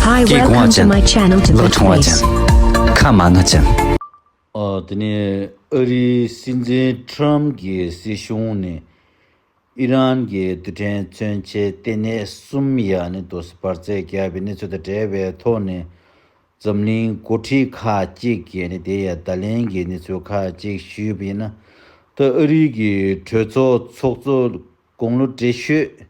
Hi, welcome to my channel to the place. ཁ་མ་ན་ཅན། དེ་ནས་ཨ་རིའི་སྲིད་འཛིན Trump གྱི་སྲིད་གཞུང་ནས་ཨི་རན་གྱི་རྡུལ་ཕྲན་མཚོན་ཆའི་ལྟེ་གནས་གསུམ་ཡ་ནི་ཏོ་སུ་བར་བཙན་བསྐྱལ་བའི་གནས་ཚུལ་དང་འབྲེལ་བའི་ཐོག་ནས་འཛམ་གླིང་མགོ་ཁྲིད་ཁག་ཅིག་གིས་ནི་དེ་ཡི་བརྡ་ལན་གྱི་གནས་ཚུལ་ཁག་ཅིག་ཞུས་པ་ཡིན། ད་ཨ་རིའི་གྲོས་ཚོགས་ཚོགས་གཙོ་དགུང་ལོ་བགྲེས་ཤོས་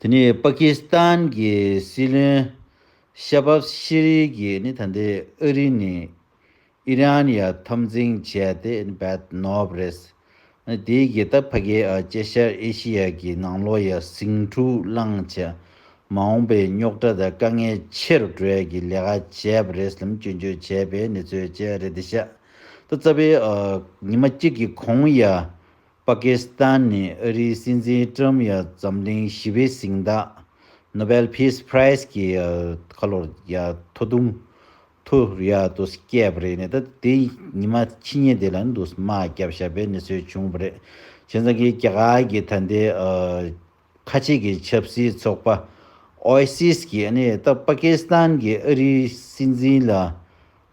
དེ་ནི་པ་ཀི་སི་ཐན་གྱི་སྲིད་བློན་ཤ་བྷ་ཤི་རི་གིས་ནི་ད་ལྟའི་ཨ་རི་ནི་ཨི་རན་ཡ་འཐབ་འཛིང་བྱས་ཏེ་ནི་བད་ནོབ་རེད། དེའི་རྒྱལ་ཐབས་ཕ་གི་ཨ་ཅེ་ཤར་ཨེ་ཤི་ཡ་གི་ནང་ལོ་ཡ་ཟིང་འཁྲུག་བསླངས་བྱས་མ་འོངས་པའི་རྙོག་དྲ་དང་དཀའ་ངལ་ཆེ་རུ་འགྲོ་ཡ་གི་ལས་ཀ་བྱས་པ་རེད་ལམ་སྐྱོན་བརྗོད་བྱས་པའི་གནས་ཚུལ་བཅས་རེད་དེ་ཤ་ད་རྩ་བའི་ཉི་མ་གཅིག་གི་གོང་ཡ་པ་ཀི་སི་ཐན་ནས་ཨ་རིའི་སྲིད་འཛིན་ཀྲུམ་ཡ་འཛམ་གླིང་ཞི་བའི་གཟེངས་རྟགས Nobel Peace Prize གི་ཁ་ལོར་ཡ་ཐོ་དུང་ཐུ་རི་ཡ་ཏུ་བསྐྱལ་བ་རེད་ནས་ད་དེ་ཉི་མ་ཕྱི་ཉིན་དེ་ལ་འདུག་སྨྲ་བརྒྱབ་བཞག་པའི་གནས་ཚུལ་བྱུང་བ་རེད་བྱས་ཙང་གི་རྒྱ་གར་གྱི་ད་ལྟའི་ཁ་ཆེ་གི་ཆབ་སྲིད་ཚོགས་པ Oasis གྱི་ནི་ད་པ་ཀི་སི་ཐན་གྱི་ཨ་རིའི་སྲིད་འཛིན་ལ་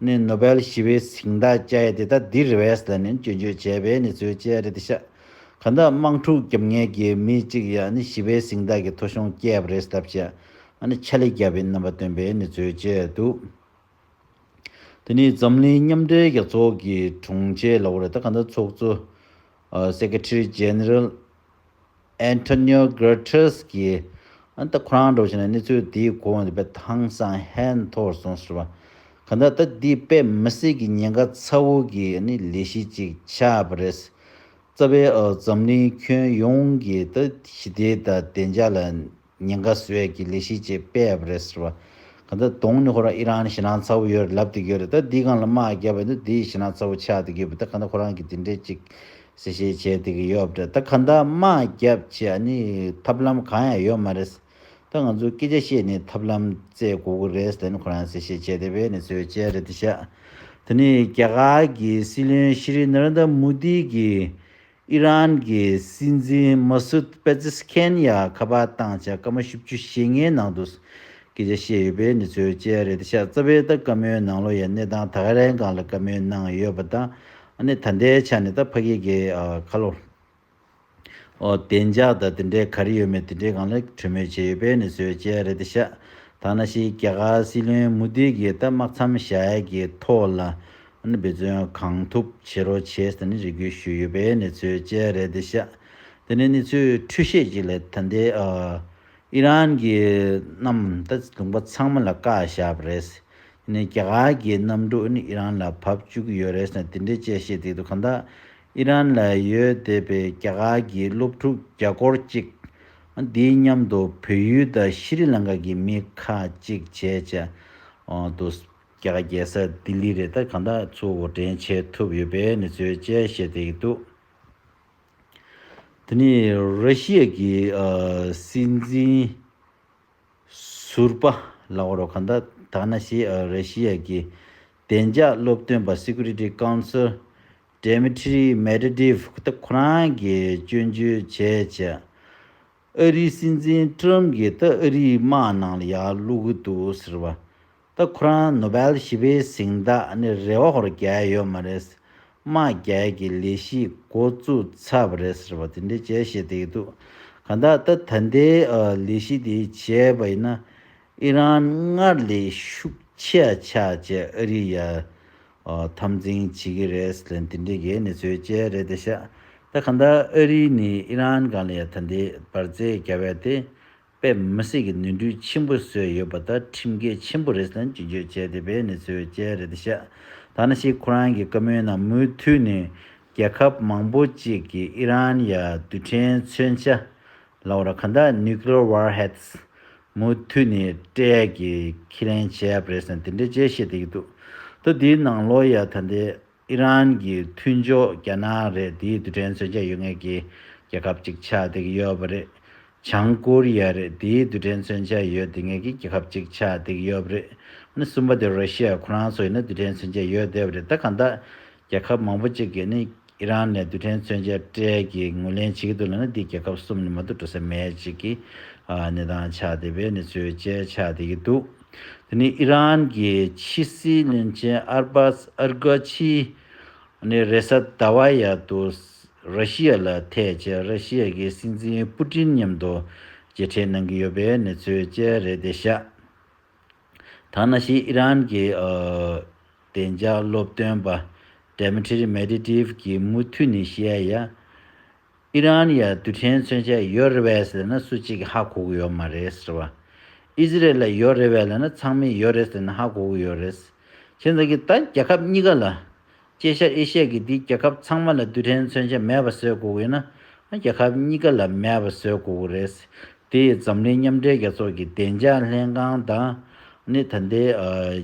ནི་ནོ་བེལ་ཞི་བའི་ཚིག་མདའ་བཅའ་ཡ་དེ་ད་དི་རི་བས་ལ་ནི་སྐྱོན་བརྗོད་བྱས་པའི་ནི་ཚུལ་བཅས་རེད་ཤག་ག་ད་དམངས་ཕྲུག་རྒྱབ་ངས་གི་མི་གཅིག་ཡ་ནི་ཞི་བའི་ཚིག་མདའ་གི་ཐོ་གཞུང་བསྐྱལ་བ་རེད་སྟབས་ཀྱི་ཨ་ནི་ཆ་ལི་རྒྱ་བའི་རྣམ་པ་སྟོན་པའི་ནི་ཚུལ་བཅས་འདུག་དེ་ནི་འཛམ་གླིང་མཉམ་འབྲེལ་རྒྱ་ཚོགས་གི་དྲུང་ཆེ་ལ་བོ་རེད་ད་ག་ད་ཚོགས་གཙོ། Secretary General Antonio Guterres གིས་ཨང་ད་ཁོ་རང་འགྲོ་བཞིན་ནས་གནས་ཚུལ་དེའི་གོ་བ་འདི་པའི་ཐང་སང་ཧན་མཐོར་སོང་ཟེར་བ། གང་ལྟར་ད་ལྟའི་པེ་མི་སི་གི་ཉེན་ཁ་ཚ་བོ་གི་ལས་གཞི་ཅིག་ཆགས་པ་རེད། རྩ་བའི་འཛམ་གླིང་ཁྱོན་ཡོངས་ཀྱི་ཞི་བདེ་དང་བདེ་འཇགས་ལ། ཉེན་ཁ་བཟོས་ཡས་ཀྱི་ལས་གཞི་བཅས་སྤེལ་ཡས་པ་རེད་ཟེར་བ། གང་ལྟར་དོང་ནི་ཁོ་རང་ཨི་རང་ནི་ཞེ་སྣང་ཚ་བོ་ཡོད་རེད་ལབ་ཏུ་གྱུར་རེད་ད་འདིས་གང་ལ་དམག་རྒྱབ་པ་འདི་འདིས་ཞེ་སྣང་ཚ་བོ་ཆགས་ཏུ་གྱུར་པ་ད་གང་ལྟར་ཁོ་རང་གི་འདི་འདྲས་ཅིག་གསལ་བཤད་བྱས་ཏུ་གི་ཡོད་པ་རེད་ད་གང་ལྟར་དམག་རྒྱབ་ཆེད་ཨ་ནི་ཐབས་ལམ་གང་ཡང་ཡོད་མ་རེད་ད་ང་ཚོ་སྐད་ཆ་བཤད་ནི་ཐབས་ལམ་བཙལ་དགོས་ཀྱི་རེད་ཟེར་ནི་ཁོ་རང་གསལ་བཤད་བྱས་ཏེ་བས་ནི་ཚོའི་དཔྱད་རེད་ད་ཤག་ད་ནི་རྒྱ་གར་གྱི་སྲིད་བློན་ཤི་རི་ནར་ནྡ་མུ་དྷི་གི་ཨི་རན་གྱི་སྲིད་འཛིན་མཱ་སུད་པེ་ཛི་སི་ཁན་ཡ་ཁ་པ་དང་ཆ་ཀ་མ་བཞི་བཅུ་ཞེ་ལྔའི་ནང་དུ་སྐད་ཆ་བཤད་ཡོད་པའི་གནས་ཚུལ་བཅས་རེད་ཤ་ཙ་བྷེ་ད་ཀ་མོའི་ནང་ལོ་ཡའི་གནས་སྟངས་དག་རན་གང་ལ་བཀའ་མོལ་གནང་ཡོད་པ་དང་ནི་ད་ལྟའི་ཆ་ནས་ད་ཕ་གི་གི་ཁ་ལོ་འོ་བདེ་འཇགས་དང་དེ་འདྲའི་ག་རེ་ཡོད་མེད་དེ་འདྲའི་གང་ལ་གྲོས་མོལ་བྱས་ཡོད་པའི་གནས་ཚུལ་བཅས་རེད་ཤ་ཐ་ན་ཤི་རྒྱ་གར་སྲིད་བློན་མུ་དྷི་གིས་ད་དམག་མཚམས་བཞག་ཡས་ཀྱི་ཐོག་ལ་འབད་བརྩོན་གང་ཐུབ་བྱེད་རོགས་བྱས་ཟེར་ནས་རེ་སྐུལ་ཞུས་ཡོད་པའི་གནས་ཚུལ་བཅས་རེད་འདུག་ཤ་དེ་ནས་གནས་ཚུལ་འཕྲུལ་བཤད་ཅིག་ལས་ད་ལྟའི་ཨི་རན་གྱི་གནམ་ལྟ་ལུང་པ་ཚང་མ་ལ་བཀའ་བཞག་པ་རེད། དེ་ནས་རྒྱ་གར་གྱི་གནམ་གྲུ་ཨི་རན་ལ་བབས་བཅུག་གི་ཡོད་རེད་ཟེར་ནས་དེ་འདྲའི་དཔྱད་བཤད་སྟེགས་འདུག་གང་ལྟར་ཨི་རན་ལ་ཡོད་བསྡད་པའི་རྒྱ་གར་གྱི་སློབ་ཕྲུག་བརྒྱ་སྐོར་ཅིག་དེའི་མཉམ་དུ་བོད་ཡུལ་དང་ཤི་རི་ལང་ཀ་གྱི་མི་ཁག་ཅིག་བྱས་བྱས་འདུག་རྒྱ་གར་རྒྱལ་ས་ལྡི་ལི་རེད་ད་གང་དག་ཚུ་འོ་དྲན་བྱས་ཐུབ་ཡོད་པའི་གནས་ཚུལ་བཅས་བཤད་བསྡད་ཀྱི་འདུག་དེ་ནི་ར་ཤི་ཡ་གི་སྲིད་འཛིན་ཟུར་པ་ལགས་རོ་གང་དག་དག་ན་ཞིག་ར་ཤི་ཡ་གི་བདེ་འཇགས་སློབ་སྟོན་པ Security Council Dmitry Medvedev ཁོ་རང་གིས་སྐྱོན་བརྗོད་བྱས་བྱས་ཨ་རིའི་སྲིད་འཛིན Trump གིས་ད་ཨ་རིའི་དམག་ནང་ལ་ཡར་བསླུག་གི་འདུག་ཟེར་བ་ད་ཁོ་རང་ནོ་བེལ་ཞི་བའི་གཟེངས་རྟགས་ནི་རེ་བ་ཧོར་རྒྱལ་ཡོད་མ་རེད། དམག་རྒྱལ་གྱི་ལས་གཞི་འགོ་བཙུགས་ཚར་བ་རེད་ཟེར་བ་དེ་འདྲའི་བྱས་ཞེས་བསྡད་ཀྱི་འདུག་གང་ལྟར་ད་ད་ལྟའི་ལས་གཞི་དེ་བྱས་པ་ཡིན་ན་ཨི་རན་སྔར་ལས་ཤུགས་ཆེ་ཆགས་རྗེས་ཨ་རི་ཡར་འཐབ་འཛིང་བྱེད་ཀྱི་རེད་ལན་དེ་འདྲའི་གནས་ཚུལ་བཅས་རེད་དེ་ཤ་ད་གང་ལྟར་ཨ་རི་ནི་ཨི་རན་གང་ལ་ཡང་ད་ལྟའི་བར་བརྩེ་ག་བས་ཏེ་པས་མི་སེར་གྱི་ནུས་འདུན་ཆེན་པོ་བཟོས་ཡོད་པ་དང་ཁྲིམས་འགལ་ཆེན་པོ་རེད་ཟེར་ནས་བྱིན་བརྗོད་བྱས་ཏེ་བས་ནས་བཟོས་བཅས་རེད་དུ་བཤད། ད་ནི་ཤིག་ཁོ་རང་གི་བཀའ་མོལ་ནང་མུས་མཐུད་ནས་རྒྱལ་ཁབ་མང་པོ་ཅིག་གིས་ཨི་རན་ཡ་རྡུལ་ཕྲན་མཚོན་ཆ། Laura Kanda Nuclear Warheads། མུས་མཐུད་ནས་སྤྲད་ཀྱི་ཁས་ལེན་བྱས་པ་རེད་ཟེར་ནས་དེ་འདྲའི་དཔྱད་གཞི་བསྡད་ཀྱི་འདུག་ད་དེའི་ནང་ལོ་ཡ་ད་ལྟའི་ཨི་རན་གྱི་མཐུན་ཕྱོགས་རྒྱ་ནག་རེད་དེའི་རྡུལ་ཕྲན་མཚོན་ཆ་ཡོད་ངེས་ཀྱི་རྒྱལ་ཁབ་ཅིག་ཆགས་བསྡད་ཀྱི་ཡོད་པ་རེད། བྱང་ཀོ་རི་ཡ་རེད་དེའི་རྡུལ་ཕྲན་མཚོན་ཆ་ཡོད་བསྡད་ངེས་ཀྱི་རྒྱལ་ཁབ་ཅིག་ཆགས་བསྡད་ཀྱི་ཡོད་པ་རེད། ནི་གསུམ་པ་དེ་རོ་ཤི་ཡ་ཁོ་རང་ཚོ་ཡིན་ན་རྡུལ་ཕྲན་མཚོན་ཆ་ཡོད་བསྡད་པ་རེད་ད་གང་ལྟར་རྒྱལ་ཁབ་མང་པོ་ཅིག་གིས་ནི་ཨི་རན་ནས་རྡུལ་ཕྲན་མཚོན་ཆ་སྤྲད་ཀྱི་ངོས་ལེན་བྱེད་ཀྱི་འདུག་ལ་ནི་འདིས་རྒྱལ་ཁབ་གསུམ་ནི་མ་གཏོགས་འགྲོ་ས་མེད་ཅིག་གི་གནས་སྟངས་ཆགས་བསྡད་པའི་ནི་ཚུལ་བཅས་ཆགས་བསྡད་ཀྱི་འདུག། དེ་ནི་ཨི་རན་གྱི་ཕྱི་སྲིད་བློན་ཆེན་ཨར་སྦ་སི་ཨར་གྷ་ཆི་ནི་རེས་གཟའ་ཟླ་བ་ཡར་དུ་ར་ཤི་ཡ་ལ་ཐེ་བྱེད་ར་ཤི་ཡ་གི་སྲིད་འཛིན་པུ་ཏྲིན་མཉམ་དུ་མཇལ་འཕྲད་གནང་གི་ཡོད་པའི་གནས་ཚུལ་བཅས་རེད་དེ་ཤ་ཐང་ན་ཤི་ཨི་རན་གྱི་བདེ་འཇགས་སློབ་སྟོན་པ Dmitry Medvedev གྱིས་མུ་མཐུད་ནས་ཤི་ཡ་ཡ་ཨི་རན་ཡ་རྡུལ་ཕྲན་མཚོན་ཆ་ཡོད་རེ་བས་ལ་ན་སུ་གཅིག་ཧ་གོ་གི་ཡོད་མ་རེད་ཟེར་བ། ཨི་ཟི་རལ་ལ་ཡོད་རེ་བས་ལ་ན་ཚང་མས་ཡོད་རེད་ཟེར་ན་ཧ་གོ་གི་ཡོད་རེད། ཁྱེད་ཚང་གིས་ད་རྒྱལ་ཁབ་གཉིས་ཀ་ལ། སྐྱེ་ཤར་ཨེ་ཤ་ཡ་གི་འདི་རྒྱལ་ཁབ་ཚང་མ་ལ་རྡུལ་ཕྲན་མཚོན་ཆ་མེད་པ་བཟོས་གོ་གི་ཡོད་ན། ང་རྒྱལ་ཁབ་གཉིས་ཀ་ལ་མེད་པ་བཟོས་གོ་གི་རེད། དེ་ཡིས་འཛམ་གླིང་མཉམ་འབྲེལ་རྒྱལ་ཚོགས་ཀྱི་བདེ་འཇགས་ལྷན་ཁང་དང། ནི་ད་ལྟའི།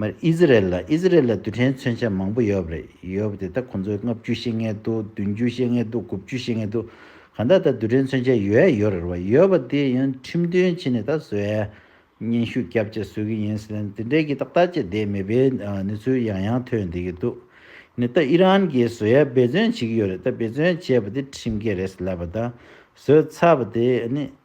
མར་ཨི་ཟི་རལ་ལ་ཨི་ཟི་རལ་ལ་རྡུལ་ཕྲན་མཚོན་ཆ་མང་པོ་ཡོད་རེད་ཡོད་པ་དེ་ད་ཁོང་ཚོའི་ལྔ་བཅུ་ཤེས་ངེས་འདུག་བདུན་བཅུ་ཤེས་ངེས་འདུག་དགུ་བཅུ་ཤེས་ངེས་འདུག་གང་ལྟར་ད་རྡུལ་ཕྲན་མཚོན་ཆ་ཡོད་ཡ་ཡོད་རེད་རེད་ཡོད་པ་དེ་ཡང་ཁྲིམས་དོན་ཕྱི་ནས་ད་བཟོས་ཡ་སྙན་ཞུ་རྒྱབ་བཅས་བཟོས་གི་ཡིན་སྲིད་དེ་འདྲའི་གི་ཏག་ཏག་བཅས་བསྡད་མེད་པའི་གནས་ཚུལ་ཡང་ཡང་ཐོས་བསྡད་གི་འདུག་ནི་ད་ཨི་རན་གི་བཟོས་ཡ་འབད་བརྩོན་བྱེད་གི་ཡོད་རེད་ད་འབད་བརྩོན་བྱས་པ་དེ་ཁྲིམས་འགལ་རེད་ལབ་པ་ད་བཟོས་ཚར་བ་དེ་ནི།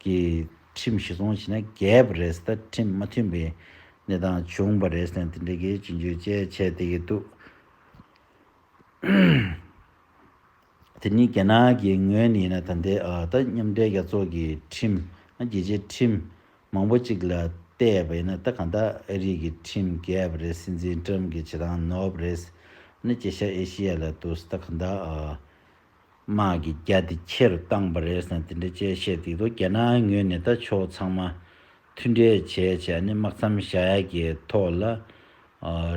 ཀྱི་ཁྲིམས་གཞི་བཟུང་བྱས་ན་རྒྱས་པ་རེད་ད་ཁྲིམས་མ་མཐུན་པའི་གནས་སྟངས་བྱུང་བ་རེད་ཟེར་ནས་དེ་འདྲའི་གལ་ཆེ་འགྱུར་བཅས་བྱས་བསྡད་ཀྱི་འདུག་དེ་ནི་རྒྱ་ནག་གི་ངོས་ནས་ཡིན་ན་ད་ལྟའི་ད་མཉམ་འབྲེལ་རྒྱལ་ཚོགས་ཀྱི་ཁྲིམས་ཨ་རྒྱལ་སྤྱིའི་ཁྲིམས་མང་པོ་གཅིག་ལ་བལྟས་པ་ཡིན་ན་ད་གང་ལྟར་ཨ་རིག་གི་ཁྲིམས་རྒྱས་པ་རེད་སྲིད་འཛིན་ཀྲམ་གྱི་བྱེད་སྟངས་ནོར་བ་རེད་ཟེར་ན་སྐྱེ་ཤར་ཨེ་ཤི་ཡ་ལ་དུ་ད་གང་ལྟར་དམག་གི་རྒྱ་དེ་ཆེར་བཏང་པ་རེད་ཟེར་ནས་དེ་འདྲའི་དཔྱད་བཤད་བསྡིགས་འདུག་རྒྱ་ནག་ངོས་ནས་ད་ཕྱོགས་ཚང་མ་མཐུན་འབྲེལ་བྱས་བྱས་ནས་དམག་མཚམས་བཞག་ཡ་གྱི་ཐོག་ལ་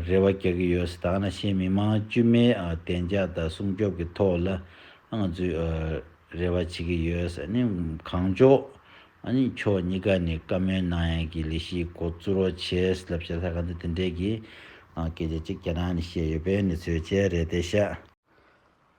རེ་བ་རྒྱག་གི་ཡོད་ཟེར་ད་ང་ན་ཤེས་མི་མང་དཀྱུས་མའི་བདེ་འཇགས་དང་སྲུང་སྐྱོབ་ཀྱི་ཐོག་ལ་ང་ཚོས་རེ་བ་བྱེད་ཀྱི་ཡོད་ཟེར་ནས་གང་ལྕོགས་ཕྱོགས་གཉིས་ཀ་ནས་བཀའ་མོལ་གནང་ཡ་གྱི་ལས་གཞི་མགོ་བཙུགས་རོགས་བྱས་ལབ་བྱས་ལྷ་ཁང་དུ་དེ་འདྲའི་གི་སྐད་ཆ་གཅིག་རྒྱ་ནག་ནས་བཤད་ཡོད་པའི་ནི་ཚོད་ཆལ་རེད་དེ་ཤ།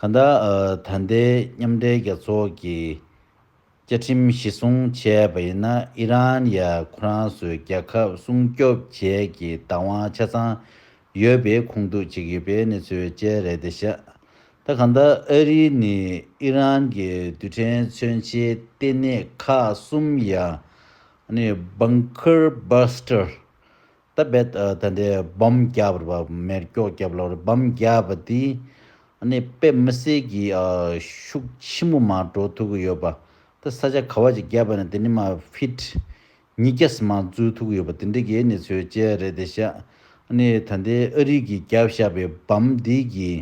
གང་ལྟར་ད་ལྟའི་མཉམ་འབྲེལ་རྒྱལ་ཚོགས་ཀྱི་བཅའ་ཁྲིམས་གཞི་བཟུང་བྱས་པ་ཡིན་ན་ཨི་རན་ཡ་ཁོ་རང་ཚོའི་རྒྱལ་ཁབ་སྲུང་སྐྱོབ་བྱེད་ཀྱི་བདག་དབང་ཆ་ཚང་ཡོད་པའི་ཁུངས་གཏུགས་བྱེད་ཀྱི་པའི་གནས་ཚུལ་བཅས་རེད་དེ་ཤ་ད་གང་ལྟར་ཨ་རི་ནི་ཨི་རན་གྱི་རྡུལ་ཕྲན་མཚོན་ཆའི་ལྟེ་གནས་ཁག་གསུམ་ཡང་ནི Bunker Buster ད་བེད་ད་འདི་བམ་བརྒྱ་པར་བ་མེར་སྐྱོག་བརྒྱབ་ལ་བར་བམ་བརྒྱ་པ་དེ་ཨ་ནི་དཔེ་མི་གསལ་གྱི་ཤུགས་ཆེན་པོ་མ་འགྲོ་ཐུག་གི་ཡོད་པ་ད་ས་ཆ་ག་བ་ཅིག་བརྒྱབ་པ་ནི་དེ་ནི་མ་ཕིད་ཉིས་བརྒྱ་སི་མ་འཛུལ་ཐུག་གི་ཡོད་པ་དེ་འདི་གའི་ནི་ཚོའི་དཔྱད་རེད་དེ་ཤ་ཨ་ནི་ད་འདི་ཨ་རིག་གི་བརྒྱབ་བཞག་པའི་བམ་འདི་གི་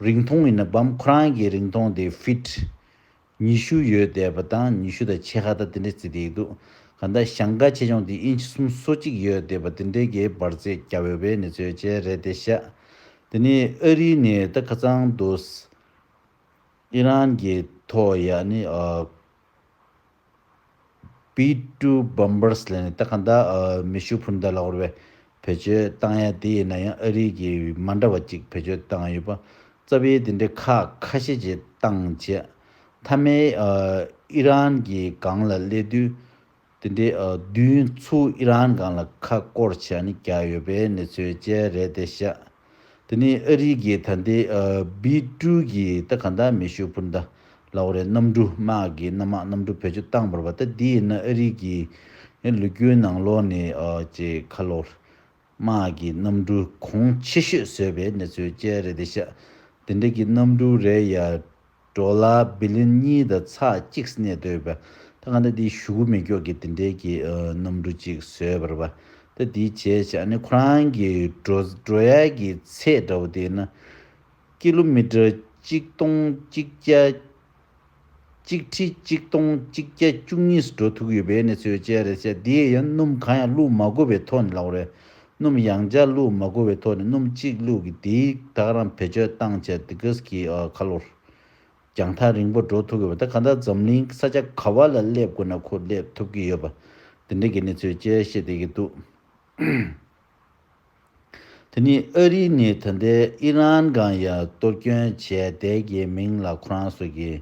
རིང་ཐུང་ཡིན་ན་བམ་ཁོ་རང་གི་རིང་ཐུང་དེ་ཕིད། ཉི་ཤུ་ཡོལ་བསྡད་པ་དང་ཉི་ཤུ་དང་ཕྱེད་ཁ་དང་དེ་འདྲའི་རྩིས་དེ་ཡིག་འདུག་ག་འདའ་ཞང་དགའ་ཆེ་ཆུང་དེ་ཨིན་ཆི་གསུམ་སོ་གཅིག་ཡོལ་བསྡད་པ་དེ་འདྲའི་གའི་འབར་རྫས་རྒྱ་བོད་པའི་ནི་ཚོའི་ཆས་རེད་དེ་ཤ་དེ་ནི་ཨ་རིའི་ནི་ད་ཁ་ཚང་འདུག་ཨི་རན་གྱི་ཐོག་ཡ་ནི་ཨ། P2 Bombers ལས་ནི་ད་ག་ཟླ་མི་ཤུགས་འཕུར་མདའ་ལ་བོར་བའི་བེད་སྤྱོད་བཏང་ཡ་དེ་ཡིན་ན་ཡང་ཨ་རིའི་གི་མ་འདྲ་བ་ཅིག་བེད་སྤྱོད་བཏང་ཡོད་པ་རྩ་བའི་དེ་འདྲའི་ཁག་ཁ་ཤས་ཀྱི་བཏང་རྗེས་མཐའ་མའི་ཨི་རན་གྱི་སྒང་ལ་སླེབས་དུས་དེ་འདྲའི་བདུན་ཚུགས་ཨི་རན་སྒང་ལ་ཁ་སྐོར་བྱས་ནས་བརྒྱག་ཡོད་པའི་གནས་ཚུལ་བཅས་རེད་དེ་བཤད། དེ་ནས་ཨ་རིའི་རྒྱའི་དར་མདེལ་བི་ཀྲུའུ་གིས་ད་ག་འདའ་མེ་ཤུ་པུར་འདའ། ལའོ་རའི་གནམ་གྲུ་དམག་གིས་གནམ་དམག་གནམ་གྲུ་བེད་སྤྱོད་བཏང་བར་བ་ད་དེ་ཡིན་ན་ཨ་རིའི་རྒྱའི་ལུ་གུའི་ནང་ལོགས་ནས་ཀྱི་ཁ་ལོ་ར་དམག་གིས་གནམ་གྲུ་གོང་ཆེ་ཤོས་བཟོས་པའི་གནས་ཚུལ་བཅས་རེད་དེ་ཤ་དེ་འདྲ་གི་གནམ་གྲུ་རེ་ཡ་འགྲོ་ལ་བི་ལིན་གཉིས་དང་ཚགས་གཅིག་གནས་སྡོད་པ། ད་ག་འདྲ་དེའི་ཞུ་གུ་མི་མགྱོགས་ཀྱི་དེ་འདྲའི་གྱི་གནམ་གྲུ་གཅིག་བཟོས་པར་བ། ད་དེའི་བྱས་བྱས་ནི་ཁོ་རང་གི་འགྲོ་ཡ་གྱི་ཚད་འདྲ་བོ་དེ་ན། ཀི་ལོ་མི་ཀྲ་གཅིག་སྟོང་གཅིག་བརྒྱ། གཅིག་ཁྲི་གཅིག་སྟོང་གཅིག་བརྒྱ་བཅུ་གཉིས་སུ་འགྲོ་ཐུག་ཡོད་པའི་ནི་ཚོའི་བཅས་རེད་བྱས་དེ་ཡང་སྣུམ་གང་ཡང་བླུག་མ་དགོས་པའི་ཐོག་ནས་ལག་རེད། སྣུམ་ཡང་བརྒྱ་བླུགས་མ་དགོས་པའི་ཐོག་ནས་སྣུམ་གཅིག་བླུགས་ཀྱིས་དེའི་ཐག་རིང་བེད་སྤྱོད་བཏང་བྱས་ཏེ་གིས་ཀྱི་ཁ་ལོར་རྒྱང་ཐག་རིང་པོ་འགྲོ་ཐུབ་ཡོད་པ་དང་གང་ལྟར་འཛམ་གླིང་ས་ཆ་ག་བ་ལ་སླེབས་དགོས་ན་ཁོ་སླེབས་ཐུབ་ཀྱི་ཡོད་པ་དེ་འདྲའི་གི་གནས་ཚུལ་བཅས་བཤད་བསྡད་ཀྱི་འདུག་དེ་ནི་ཨ་རི་ནི་ད་ལྟའི་ཨི་རན་གང་ཡང་གཏོར་སྐྱོན་བྱས་བསྡད་ཀྱི་མིང་ལ་ཁོ་རང་སོགས་ཀྱིས་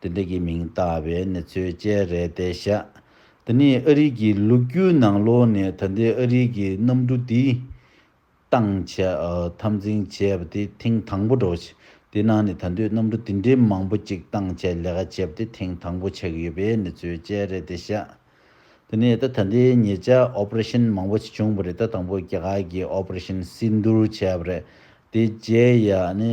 དེ་འདྲ་གི་མིང་བཏགས་པའི་གནས་ཚུལ་བཅས་རེད་དེ་ཤ་འདི་ནི་ཨ་རིག་གི་ལུག་ཁྱུའི་ནང་ལོག་ནས་ད་ལྟའི་ཨ་རིག་གི་གནམ་གྲུ་དེ་སྟངས་ཆ་འཐབ་འཛིང་བྱས་པ་དེ་ཐེངས་དང་པོ་འགྲོ་ཆེ་དེ་ནང་ནས་ད་འདོད་གནམ་གྲུ་དེ་འདྲའི་མང་པོ་གཅིག་སྟངས་ཆ་ལས་ཀ་བྱས་པ་དེ་ཐེངས་དང་པོ་ཆགས་ཡོད་པའི་གནས་ཚུལ་བཅས་རེད་དེ་ཤ་འདི་ནི་ད་ད་ལྟའི་ཉེ་ཆར Operation མང་པོ་བྱུང་བ་རེད་ད་དང་པོ་རྒྱ་གར་གི Operation Sindoor བྱས་པ་རེད་དེ་རྗེས་ཡ་ནི་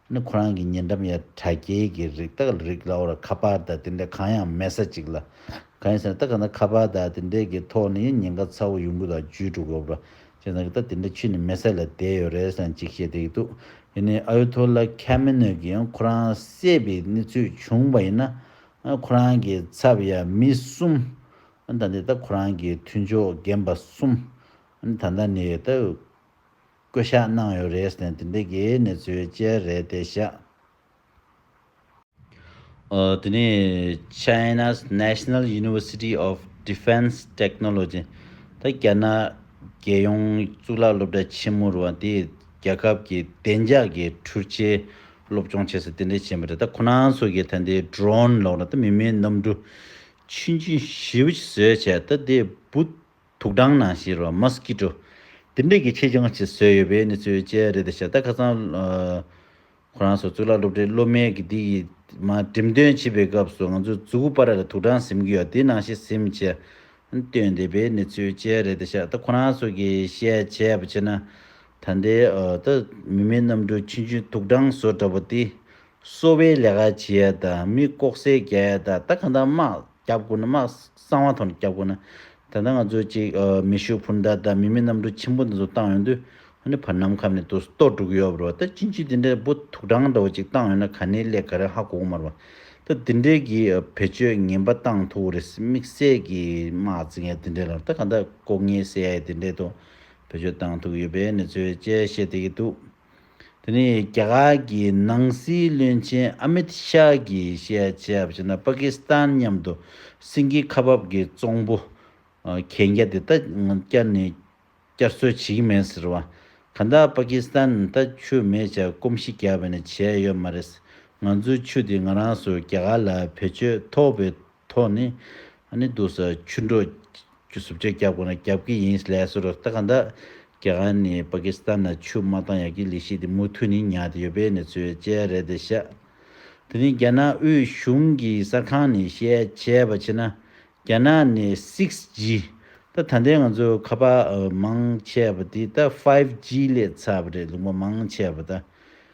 ནི་ཁོ་རང་གི་ཉེ་འགྲམ་ཡ་གྲ་རྒྱལ་གྱི་རིགས་ཏག་ལ་རིགས་ལ་བོར་ཁ་པར་དང་དེ་འདྲའི་གང་ཡང་མེད་ས་ཅིག་ལ། གང་ཡིན་ཟེར་ན་ད་ག་ནང་ཁ་པར་དང་དེ་འདྲའི་གི་ཐོག་ནས་ཡང་ཉེན་ཁ་ཚ་བོ་ཡོང་གི་འདུག་བཅུ་དྲུག་གོ་བར་ཅེས་ན་གི་ད་དེ་འདྲ་ཆུད་ནས་མེད་ས་ལ་བསྡད་ཡོད་རེད་ཟེར་ན་ཅིག་བཤད་བསྡད་ཀྱི་འདུག་དེ་ནི་ཨ་ཡོ་ཐོ་ལ་ཁ་མི་གནོད་ཀྱི་ཡང་ཁོ་རང་བསད་པའི་གནས་ཚུལ་བྱུང་བ་ཡིན་ན། ཁོ་རང་གི་ཚབ་ཡ་མི་གསུམ། ད་འདི་ད་ཁོ་རང་གི་མཐུན་ཕྱོགས་རྒན་པ་གསུམ། ད་ད་ནི་ད། བསྐོ་གཞག་གནང་ཡོད་རེད་ཟེར་དེ་འདི་གའི་གནས་ཚུལ་བཅས་རེད་དེ་བཞག། འདི་ནི China's National University of Defense Technology ད་རྒྱ་ནག་རྒྱལ་ཡོངས་གཙུག་ལག་སློབ་གྲྭ་ཆེན་མོ་རུ་བ་དེས་རྒྱལ་ཁབ་ཀྱི་བདེ་འཇགས་ཀྱི་འཕྲུལ་ཆས་སློབ་སྦྱོང་བྱེད་ས་དེ་འདྲས་བྱས་པ་རེད་ད་ཁོ་ན་ཚོ་གིས་ད་འདི Drone ལོག་ན་ད་མི་མིན་གནམ་གྲུ་ཆུན་ཆུན་བཞི་བཞི་བཟོས་བྱས་ད་འདི་བུ་དུག་སྦྲང་ནང་བཞིན་རོ། Mosquito། དེ་འབྲེལ་གྱི་ཆེད་སྦྱང་བྱེད་སྲོལ་ཡོད་པའི་གནས་ཚུལ་བཅས་རེད་ད་ཤ་སྟག་ཁ་སང། ཁོ་རང་ཚོ་གཙུག་ལག་སློབ་གྲྭའི་སློབ་མའི་དགེ་སྡིག་ཡིད། མ་འགྲིམ་སྟོན་བྱེད་པའི་སྐབས་སུ་ང་ཚོས་ཛུ་གུ་པ་ར་ལ་དུག་སྦྲང་གཟིམ་གྱི་ཡོད་དེ་ནང་བཞིན་གཟིམ་བྱེད། སྟོན་བསྡད་པའི་གནས་ཚུལ་བཅས་རེད་ད་ཤ་སྟག་ཁོ་རང་ཚོ་གིས་བཤད་བྱས་པ་བྱས་ན། ད་ལྟའི། མི་མེད་གནམ་གྲུ་ཆུན་ཆུན་དུག་སྦྲང་བཟོ་འདྲ་བོ་དེ། གསོ་བའི་ལས་ཀ་བྱེད་ད་མི་ལྐོག་ཟས་རྒྱལ་ད་ད་གང་ད་དམག་རྒྱབ་དགོས་ན་དམག་གསང་བ་ཐོག་ནས་རྒྱབ་དགོས་ན། ད་ད་ང་ཚོ་ཅིག་མེ་ཤུགས་འཕུར་མདའ་ད་མི་མེད་གནམ་གྲུ་ཆེན་པོ་འདི་ཚོ་བཏང་ཡོང་དུས་ཧ་ནི་བར་ནམ་ཁམས་ནས་དུ་སྟོ་སྒྲུག་ཡོད་རོ་ད་ཅི་འཇི་དེ་འདྲའི་བུ་དུག་སྦྲང་འདྲ་བོ་ཅིག་བཏང་ཡོང་ན་ག་ནི་ལས་ག་རེ་ཧ་གོ་གོ་མ་རོ། ད་འདི་འདྲའི་གི་བེད་སྤྱོད་ངན་པ་བཏང་ཐུག་རེད་དམིགས་བསལ་གི་དམག་རྩིས་མཁན་དེ་འདྲའི་ལ་ད་གང་ད་ལྐོག་ངན་ཟས་དེ་འདྲའི་ཐོག་བེད་སྤྱོད་བཏང་ཐུག་ཡོད་པའི་གནས་ཚུལ་བཅས་བཤད་དེ་གི་འདུག། དེ་ནི་རྒྱ་གར་གྱི་ནང་སྲིད་བློན་ཆེན་ཨ་མིད་ཤཱ་གྱིས་བཤད་ཆ་བྱས་ན་པ་ཀི་སི་ཐན་མཉམ་དུ་སིན་གྱི་ཁ་འབབ་ཀྱི་ཙོང་པུ་གན་རྒྱ་དེ་ད་བསྐྱར་ནས་བསྐྱར་གསོ་བྱེད་ཀྱི་མེད་ཟེར་བ། གང་ལྟར་པ་ཀི་སི་ཐན་ད་ཆུ་མེད་ཆར་སྐོམ་གཞི་རྒྱག་པ་ནི་བྱས་ཡོད་མ་རེད། ང་ཚོའི་ཆུ་དེ་ང་རང་སུ་རྒྱ་གར་ལ་བེད་སྤྱོད་ཐོབ་པའི་ཐོག་ནས། ཨ་ནེ་སྡུག་ས་ཆུ་འགྲོ། ཀྱི་སུབ་ཆ་རྒྱབ་དགོ་ན་རྒྱབ་ཀྱི་ཡིན་སླད་སུ་རག་ད་ག་འདྲ། རྒྱ་གར་ནས་པ་ཀི་སི་ཐན་ལ་ཆུ་མ་བཏང་ཡག་གི་ལི་ཤི་དེ་མུ་མཐུ་ནི་ཉག་དེ་ཡོད་པའི་ནི་ཚོའི་དཔྱད་རེད་དེ་ཤ། དེ་ནི་རྒྱ་ནག་དབུས་གཞུང་གི་གསར་ཁང་ནས་བཤད་བྱས་པ་ཕྱི་ན་རྒྱ་ནག་ནས six G ད་ད་ལྟའི་ང་ཚོའི་ཁ་པ་མང་ཆེ་བ་དེ་ད five G ལས་ཚ་བ་རེད་ལུང་པ་མང་ཆེ་བ་ད་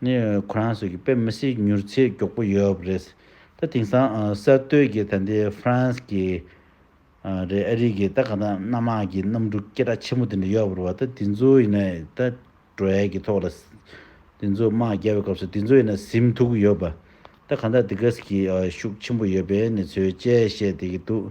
ནི་ཁོ་རང་ཚོ་གི་དཔེ་མི་སྲིད་མྱུར་ཚད་མགྱོགས་པོ་ཡོད་པ་རེད། ད་དེང་སང་གསར་གཏོད་ཀྱི་ད་འདི France གི་རེད་ཨ་རིག་གི་ད་གང་ཐང་གནམ་མང་གི་གནམ་གྲུ་སྐེ་དྲག་ཆེན་མོ་དེ་འདྲ་ཡོད་པ་རེད་བ་ད་དེ་ཚོ་ཡིན་ན་ད་བྲོས་ཀྱི་ཐོག་ལ་དེ་ཚོ་དམག་རྒྱག་པའི་སྐབས་སུ་དེ་ཚོ་ཡིན་ན་གཟིམ་ཐུག་གི་ཡོད་བ་ད་གང་ཐང་དེ་ག་ཟིག་གི་ཤུགས་ཆེན་པོ་ཡོད་པའི་ནི་ཚོའི་དཔྱད་བཤད་དེ་གི་འདུག།